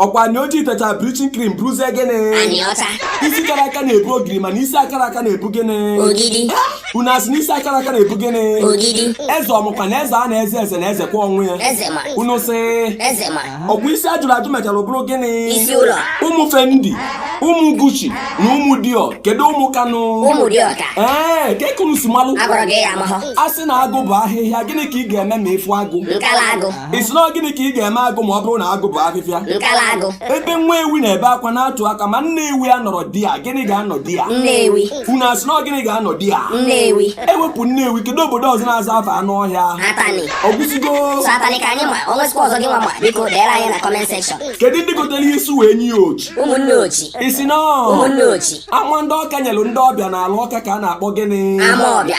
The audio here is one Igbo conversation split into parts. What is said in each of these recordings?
ọkwa onye ojii techa bleaching cream bụrụzie gịnị isi kara aka na-ebu ogiri mana isi akara aka na-ebu gịnị unu asị na isi akara aka na-ebu gịnị eze ọmụkwa na eze a na-eze eze na-ezekwa onwe ya unu sị ọkwa isi a jụrụ ajụ mechara bụrụ gịnị ụmụ fendi ụmụ gucci na ụmụ dior kedu ụmụ kanụ ee kee ka unu si malụ a sị na agụ bụ ahịhịa gịnị ka ị ga-eme ma ị fụ agụ ị sị na gịnị ka ị ga-eme agụ ma ọ bụrụ na agụ bụ afịfịa nkalagụ ebe nwa ewi na-ebe akwa na-atụ aka ma nna ewi anọrọ di ya gịnị ga-anọ di ya nne ewi unu asị na gịnị ga-anọ di ya nne ewi e wepụ nne ewi kedu obodo ọzọ na-aza afa anụ ọhịa ahụ atani ọ gwụzigo sọ atani ka anyị ma o nwezikwa ọzọ gị nwa ma biko deere anyị na comment section kedu ndị gotere isu wee nye ya ochi ụmụnne ochi ị sị na ụmụnne ochi ama ndị ọka nyelụ ndị ọbịa n'ala ọka ka a na-akpọ gịnị ama ọbịa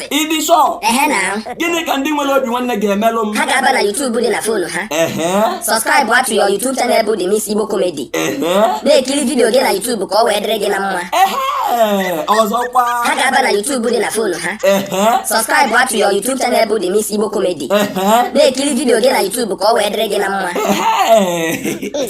Ntị. Ị dị sọ. Ehe na. Gịnị ka ndị nwere obi nwanne ga-emelụ m? Ha ga-aba na YouTube dị na fonu ha. Ehe. Subscribe to your YouTube channel bụ The Miss Igbo Comedy. Ehe. Na-ekiri vidiyo gị na YouTube ka ọ wee dịrị gị na mma. Ehe. Ọzọkwa. Ha ga-aba na YouTube dị na fonu ha. Ehe. Subscribe to your YouTube channel bụ The Miss Igbo Comedy. Ehe. Na-ekiri vidiyo gị na YouTube ka ọ wee dịrị gị na mma. Ehe.